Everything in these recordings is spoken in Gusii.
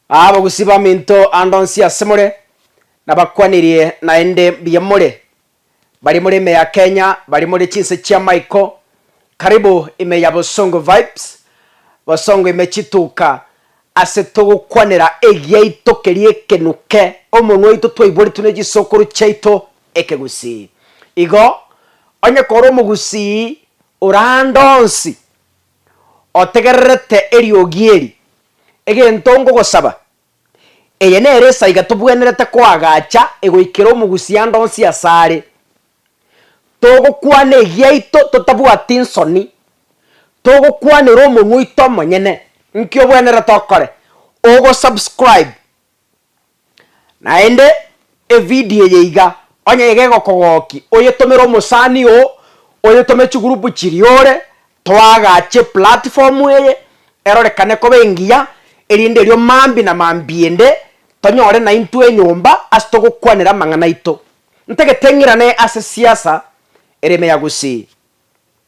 Abagusii baminto ande onsi ase more, nabakwanirie naende mbuya more. Baria more ime ya Kenya, baria more chinse chia Michael, karibu ime ya Bosongo Vibes, Bosongo ime chituka ase togokwanera egiaito keria ekenuke omonwa oito twaiboretwe ne chisokoro chiaito ekegusii. Igo, onye kore omogusii ore ande onsi. otegererete eriogi eri, egento ngogosaba, eye nere esaiga tobwenerete koagacha egoikera omogusianda onsi asare. Togokwana egiaito totabwati nsoni, togokwanera omonwa oito omonyene nki obwenerete okore. Ogosubscribe Naende evideo eye iga, onye iga egokogokia, oyetomere omosani oo, oyetome chigroup chiria ore, toagache platform eye, erorekane koba engiya, erinde erio mambia na mambiende tonyore naintwe enyomba ase togokwanera amang'ana aito. Ntagete ng'irane ase siasa, ere ime ya gusii.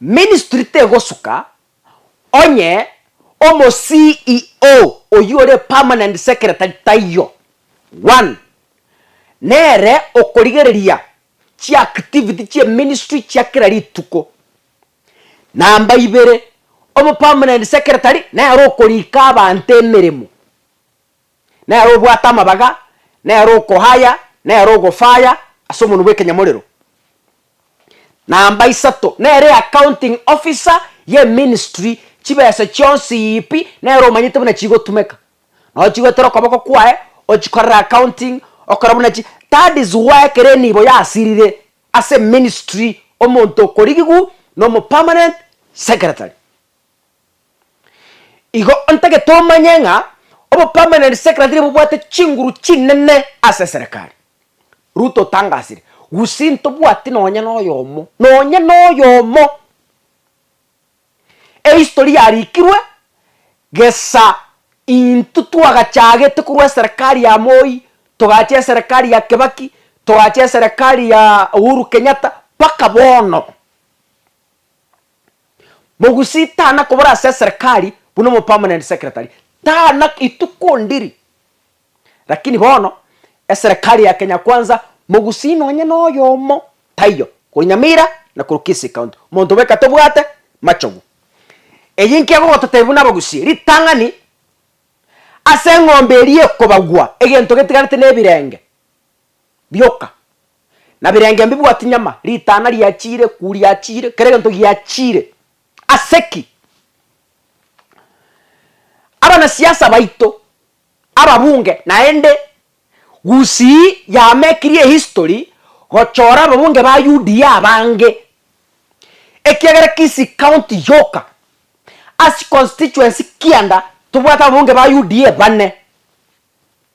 Ministry tegosuka onye omo CEO oyio ore permanent secretary taiyo. One, nere okorigereria chiactivity chie ministry chia kera rituko. Namba ibere, omo permanent secretary nere okorika abanto emeremo. nere obwate amabaga, nere okohaya, nere ogofaya ase omonwa bw'ekenyamorero. Namba isato, nere accounting officer y'eministry, chibesa chionsi pi nere omanyete buna chigotumeka. Nabo chigoetera okoboko kwaye, ochikorere accounting, okore buna chi, that is why ekero enibo yasirire ase eministry omonto okorigigwa na omopermanent secretary. Igo ntagete omanye ng'a obo permanent secretary bobwate chinguru chinene ase eserekari. Ruto otangasire, Gusii ntobwati nonya noyomo, nonya noyomo. Ehistory yarikirwe gesa intwe twagachagete korwa eserekari ya Moi, togacha eserekari ya Kibaki, togacha eserekari ya Uhuru Kenyatta, mpaka bono. Mogusii tana kobora ase eserekari buna omopermanent secretary, tana rituko ndiri. Lakini bono eserekari ya Kenya Kwanza Mogusii nonye noyomo taiyo, korwa Nyamira na korwa Kisii County, omonto bweka tobwate machogu. Eyio inki egogototebia buna abagusii? Ritang'ani ase eng'ombe eria ekobagwa, egento getigarete nebirenge. rioka, na birenge mbibwati nyama, ritana riachiire, ekuu riachiire, kera egento giachiire. Ase ki? Abanasiasa baito, ababunge, naende Gusii yamekirie ehistory gochora ababunge ba UDA abange, ekiagera Kisii County yoka, ase constituency kianda, tobwate ababunge ba UDA bane.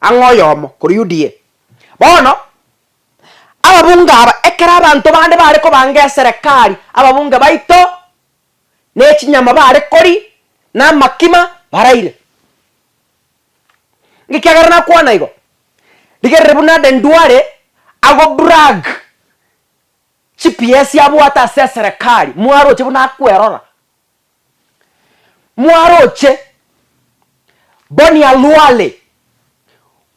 Ang'e oyomo korwa Yudia. Bono, ababunge aba, ekero abanto bande bare kobanga eserekari, ababunge baito ne chinyama bare kori, na amakima baraire. Ekiagera nakwana igo, rigerere buna ande ndware ago brag chipiesi abwate ase eserekari, mwaroche buna akwerora. Mwaroche bonialwale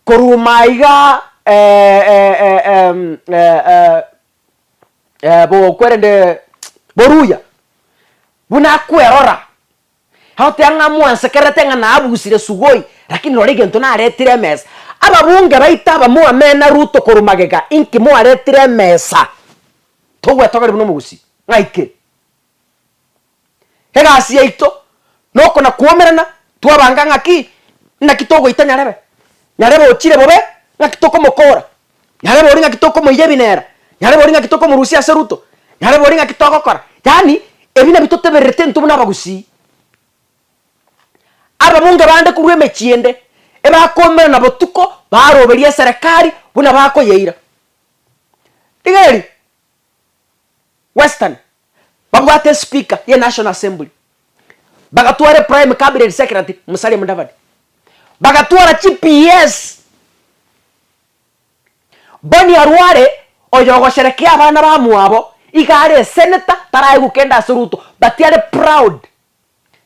korwa maiga bokwerende boruya, buna akwerora, agoteba ng'a mwansekererete ng'a nabusire sugoi, rakini rora egento naretire emesa. Ababunge baito aba mwamena Ruto korwa magega, inki mwaretire emesa? Togwetogia ribu nomogusii, ng'aikire. Egasi yaito noko na kwomerana twabanga ng'aki naki togoita nyarebe. Nyarebe ochire bobe ng'aki tokomokora, nyarebe ori ng'aki tokomoira ebinera, nyarebe ori ng'aki tokomorusia ase ruto, nyarebe ori ng'aki togokora. Yaani ebi nabi totebererete intwe buna abagusii. Ababunge bande korwa emechie ende ebakomerana botuko baroberie eserekari buna bakoyeira. Rigeri? Western babwate espeaker ye National Assembly, bagatwara eprime cabinet secretary Musalia Mudavadi, bagatwara chi PS Bonny Arware oyo ogosherekea abana bamwabo iga are esenator taraegwa kende ase Ruto but are proud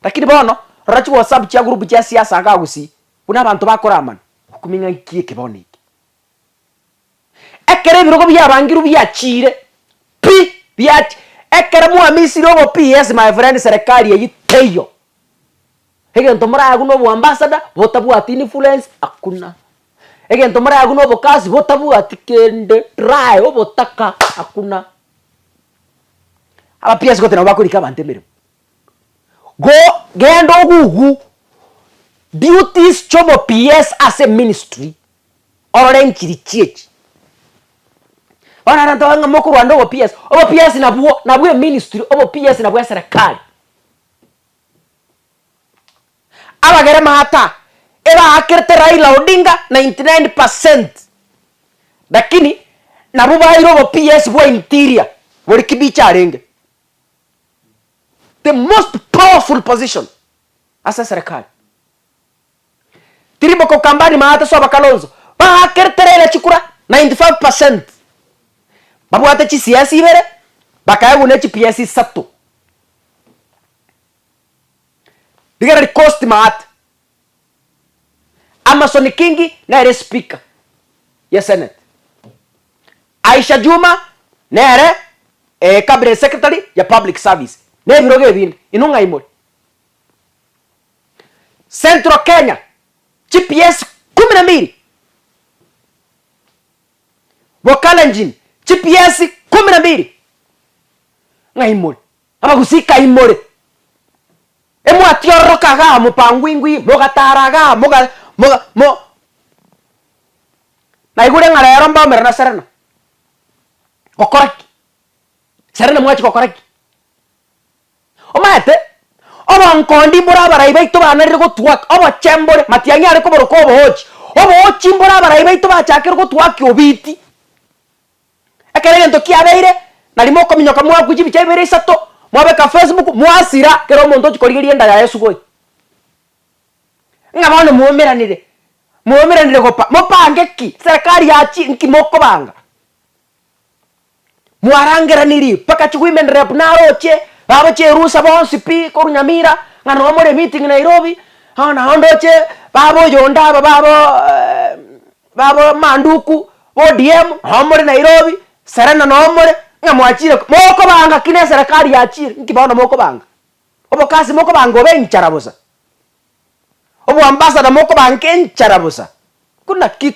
lakini bono rora chi WhatsApp chia group chia siasa iga agusii buna abanto bakora amana okuming'a ng'aki eke bono eke. Ekero ebirogo biabangirwe biachiire, pi! biach ekero mwamisire obopi yes my friend serekari eyio teiyo. Egento more agwo na oboambassador botabwati influence hakuna. Egento more agwo na obokasi botabwati kende dry obotaka hakuna. Aba PS goteba bakorika abanto emeremo. Go genda ogugu duties chiobo PS ase ministry orore enkiri chiechi. Bono abanto abange mokorwande obopies, obopies nabwo nabwo eministry obopies nabwo eserekari. Abagere maata ebaakerete Raila Odinga ninety nine percent lakini nabwo baeire obopies bwa interior bori kibicho arenge. The most powerful position ase eserekari. Tiri bokokamba nyuma ase soba Kalonzo bagakerete Raila chikura 95 percent babwate chisiasi ibere bakaegwa ne chipiasi isato. Rigera rikosti maate. Amason Kingi nere speaker ye senate. Aisha Juma nere cabinet secretary ya public service. Nebirogo ebinde. Inwe ng'ai more? Central Kenya GPS kumi na mbiri Bokalenjin GPS kumi na mbiri Ng'a imore abagusii ka imore emwatiororoka igaa mopangwingwi mogatara igaa moga moga mo Naigure ng'a rero mbaumera na Serena gokora ki? Serena mwachia gokora ki? Omanyete, obonkoondi mbore abarai baito baanarire gotwaka obochembore, matiang'i are koboroka oboochi. Oboochi mbore abarai baito bachakire gotwaki obiiti. Ekero egento kiabeire, nari mokominyoka mwakwa chibicha ibere isato, mwabeka Facebook, mwasira, kera omonto ochi korigeria enda yaye sugoi. Ng'a bono mwaumeranire, mwaumeranire gopa, mopange ki? Serekari ya chi nki mokobanga? Mwarangeranirie mpaka chiwomen rep naroche baroche erusa bonsi pi korwa nyamira ng'a noo more meeting Nairobi bono nao ndoche baba oyonde aba baba baba manduku ODM noo more Nairobi Serena noo more ng'a mwachire mokobanga ki ne serikali yachire nki bono mokobanga obokasi mokobanga obe enchara bosa oboambassador mokobanga enchara bosa buna ki.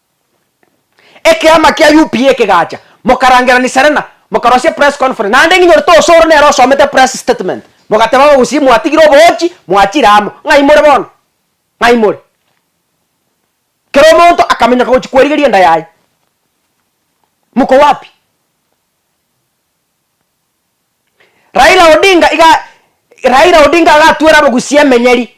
Ekeama kia UPA ekegacha, mokarangerania Serena, mokarosia press conference, naende ng'inyore tosoro nere osomete press statement, mogateba aba gusii mwatigire oboochi, mwachire amo. Ng'ai more bono? Ng'ai more? Kera omonto akaminyoka gochia kwerigeria enda yaye. Mko wapi? Raila Odinga iga Raila Odinga agatwera abagusii emenyeri.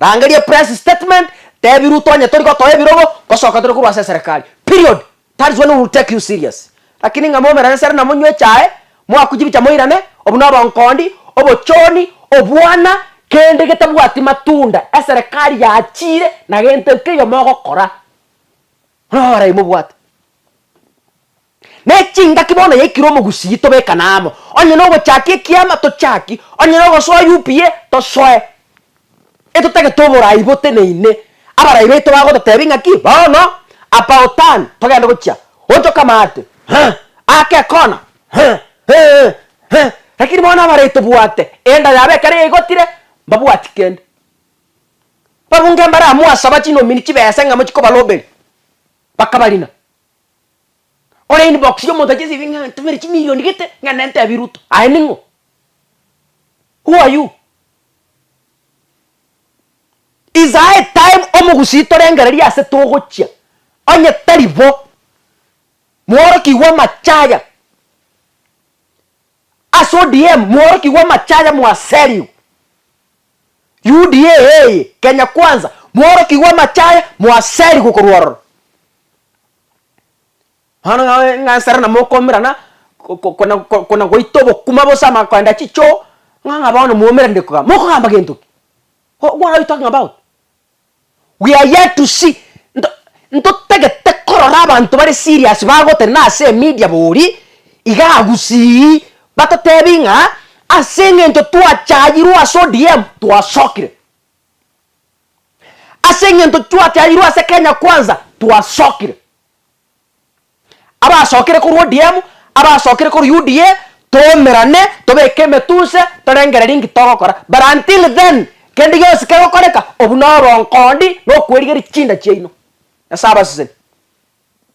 Rangeria press statement, tebi Ruto onye tori gotoa ebirogo, ngosoka tore korwa ase eserekari. Period. That is when we will take you serious. Lakini ng'a momerane sare na monywe echae, moaku chibicha moirane, obuna obonkondi, obochoni, obwana, kende getabwati matunda eserekari yachiire na gento keiyo mogokora. Buna abarai mobwate. Ne chingaki bono yaikire omogusii tobekane amo, onye nogochaki ekiama tochaki, onye nogosoa UPA tosoe, etotagete oborai boteneine, abarai baito bagototebia ng'aki bono about turn togende gochia gocha okamate huh ake ekona huh eeh huh lakini bono abarai tobwate enda yabo ekero yaigotire mbabwati kende. Babunge mbare amo asaba chinomini chibesa ng'amo chikobaroberia bakabarina. Ore inbox ya omonto achesie ng'a ntomere chimilion gete ng'a nente abie ruto aye ning'o? Who are you? Is high time omogusii torengererie ase togochia onye tari bo mworokigwe amachaya ase odm mworokigwe amachaya mwaserigwe UDA eye Kenya kwanza mworokigwe amachaya mwaserigwe korwa ororo. Bono ng'ansare na mokomerana kona goita obokima bosa amakoenda chichoo, ng'a bono mwaumerane kogamba, mokogamba gento ki? What are you talking about? We are here to see nto ntotagete korora abanto bare serious bagotenena ase emedia bori igaa gusii, batotebi ng'a ase eng'encho twachayirwe ase ODM twasokire. Ase eng'ento twatiarirwe ase Kenya Kwanza twasokire. Abasokire korwa ODM, abasokire korwa UDA, toumerane, tobeke emetunse, torengererie nki togokora. But until then, kende gionsi kegokoreka, obwo na obonkoondi na okwerigeria chinda chiaino. Nyasae abaseseni.